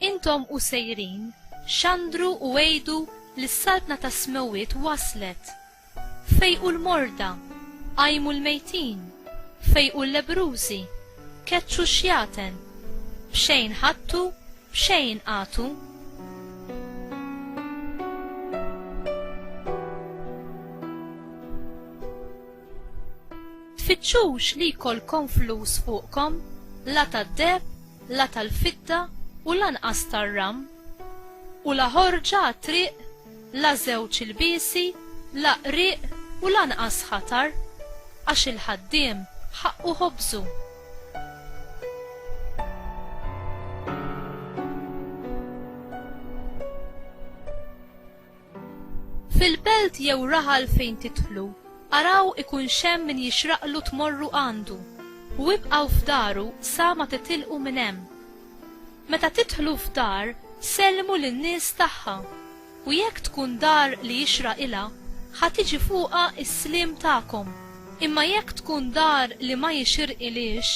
Intom u sejrin, xandru u għidu li s-Saltna tas-Smewwiet waslet! Fejqu l-morda, qajmu l-mejtin, fejqu l-lebbrużi, keċċu x-xjaten, b'xejn ħadtu, b'xejn agħtu. tfittxux li jkollkom flus fuqkom, la tad-deheb, la tal-fidda u lanqas tar-ram. U la ħorġa għat-triq la żewġ ilbiesi, la qrieq u lanqas ħatar, għax il-ħaddiem ħaqqu ħobżu. Fil-belt jew raħal fejn tidħlu, araw ikun xem min jixraqlu tmorru għandu, u ibqaw f'daru sa ma titilqu minn hemm. Meta tidħlu f'dar, sellmu lin-nies tagħha, u jekk tkun dar li jixraq ilha, ħa tiġi fuqha s-sliem tagħkom, imma jekk tkun dar li ma jixirqilhiex,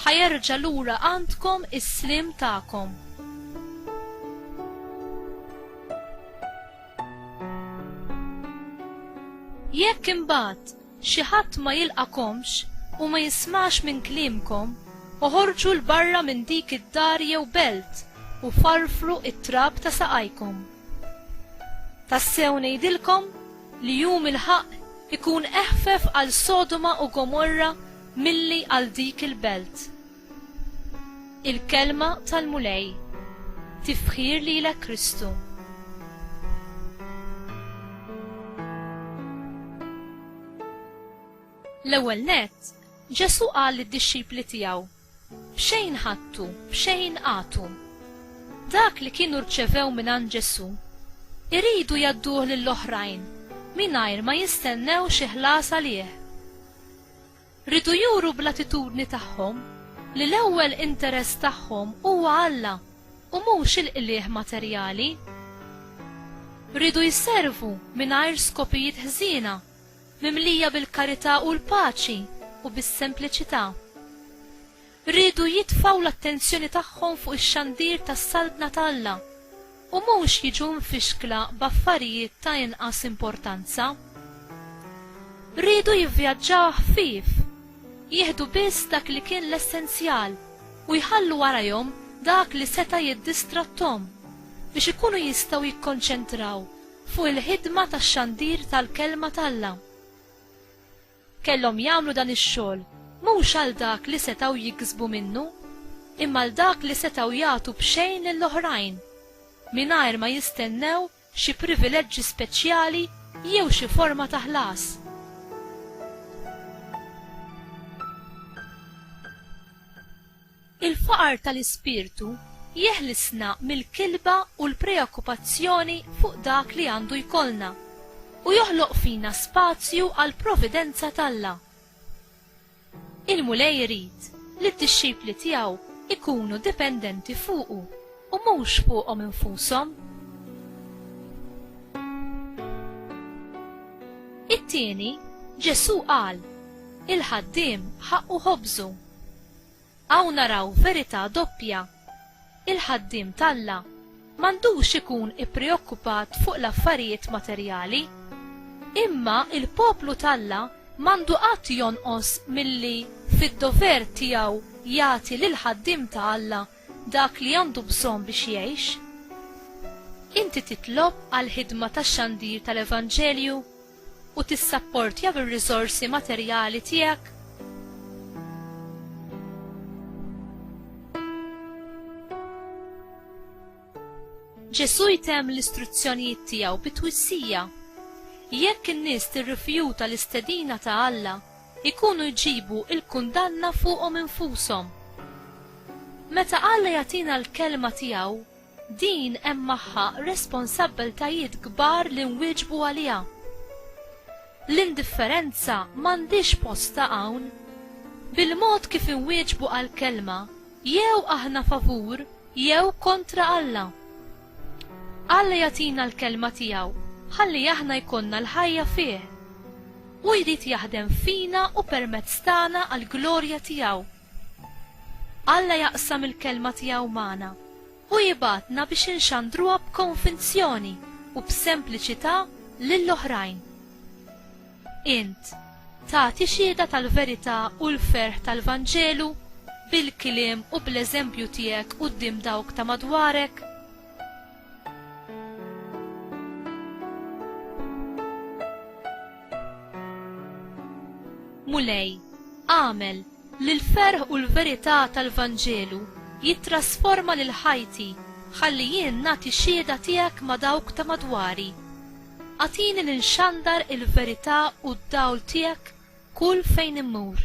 ħa jerġa' lura għandkom is-sliem tagħkom. Jekk imbagħad xi ħadd ma jilqagħkomx u ma jismax minn kliemkom, oħorġu 'l barra minn dik id-dar jew belt u farfru t-trab ta' saqajkom. Tassew ngħidilkom li Jum il-Ħaqq ikun eħfef għal Sodoma u Gomorra milli għal dik il-belt. Il-Kelma tal-Mulej. Tifħir lilek Kristu. L-ewwel nett, Ġesù qal lid-dixxipli tiegħu, B'xejn ħadtu, b'xejn agħtu. Dak li kienu rċevew mingħand Ġesù, iridu jgħadduh lill-oħrajn mingħajr ma jistennew xi ħlas għalih. Riedu juru bl-attitudni tagħhom li l-ewwel interess tagħhom huwa Alla u mhux il-qligħ materjali. Riedu jservu mingħajr skopijiet ħżiena, mimlija bil-karità u l-paċi u bis-sempliċità. riedu jitfgħu l-attenzjoni tagħhom fuq ix-xandir tas-Saltna ta' Alla u mhux jiġu mfixkla b'affarijiet ta' inqas importanza. Riedu jivvjaġġaw ħfief, jieħdu biss dak li kien l-essenzjal u jħallu warajhom dak li seta' jiddistratthom biex ikunu jistgħu jikkonċentraw fuq il-ħidma tax-xandir tal-Kelma t'Alla. Kellhom jagħmlu dan ix-xogħol mhux għal dak li setgħu jiksbu minnu, imma għal dak li setgħu jagħtu b'xejn lil oħrajn, mingħajr ma jistennew xi privileġġi speċjali jew xi forma ta' ħlas. Il-faqar tal-ispirtu jeħlisna mill-kilba u l-preokkupazzjoni fuq dak li għandu jkollna, u joħloq fina spazju għall-providenza t'Alla. Il-Mulej irid li d-dixxipli tiegħu jkunu dipendenti fuqu u mhux fuqhom infushom. It-tieni, Ġesù qal, Il-ħaddiem ħaqqu ħobżu. Hawn naraw verità doppja. Il-ħaddiem t'Alla m'għandux ikun ippreokkupat fuq l-affarijiet materjali. Imma l-poplu t'Alla m'għandu qatt jonqos milli fid-dover tiegħu jagħti lill-ħaddiem ta' Alla dak li għandu bżonn biex jgħix. Inti titlob għall-ħidma tax-xandir tal-evanġelju? u tissapportja bir-riżorsi materjali tiegħek? Ġesù jtemm l-istruzzjonijiet tiegħu bi twissija. Jekk in-nies tirrifjuta l-istedina ta' Alla, ikunu jġibu l-kundanna fuqhom infushom. Meta Alla jagħtina l-kelma tiegħu, Din hemm magħha responsabbiltajiet kbar li nwieġbu għaliha. L-indifferenza m'għandhiex postha hawn. Bil-mod kif inwieġbu għall-Kelma, jew aħna favur jew kontra Alla. Alla jagħtina l-Kelma tiegħu ħalli aħna jkollna l-ħajja fih. Hu jrid jaħdem fina u permezz tagħna għall-glorja tiegħu. Alla jaqsam il-Kelma tiegħu magħna. Hu jibgħatna biex inxandruha b'konvinzjoni u b'sempliċità lil oħrajn. Int tagħti xhieda tal-verità u l-ferħ tal-Vanġelu bil-kliem u bl-eżempju tiegħek quddiem dawk ta' madwarek? Mulej, agħmel li l-ferħ u l-verità tal-Vanġelu jittrasforma lil ħajti ħalli jien nagħti xhieda tiegħek ma' dawk ta' madwari. Agħtini li nxandar il-verità u d-dawl tiegħek kull fejn immur.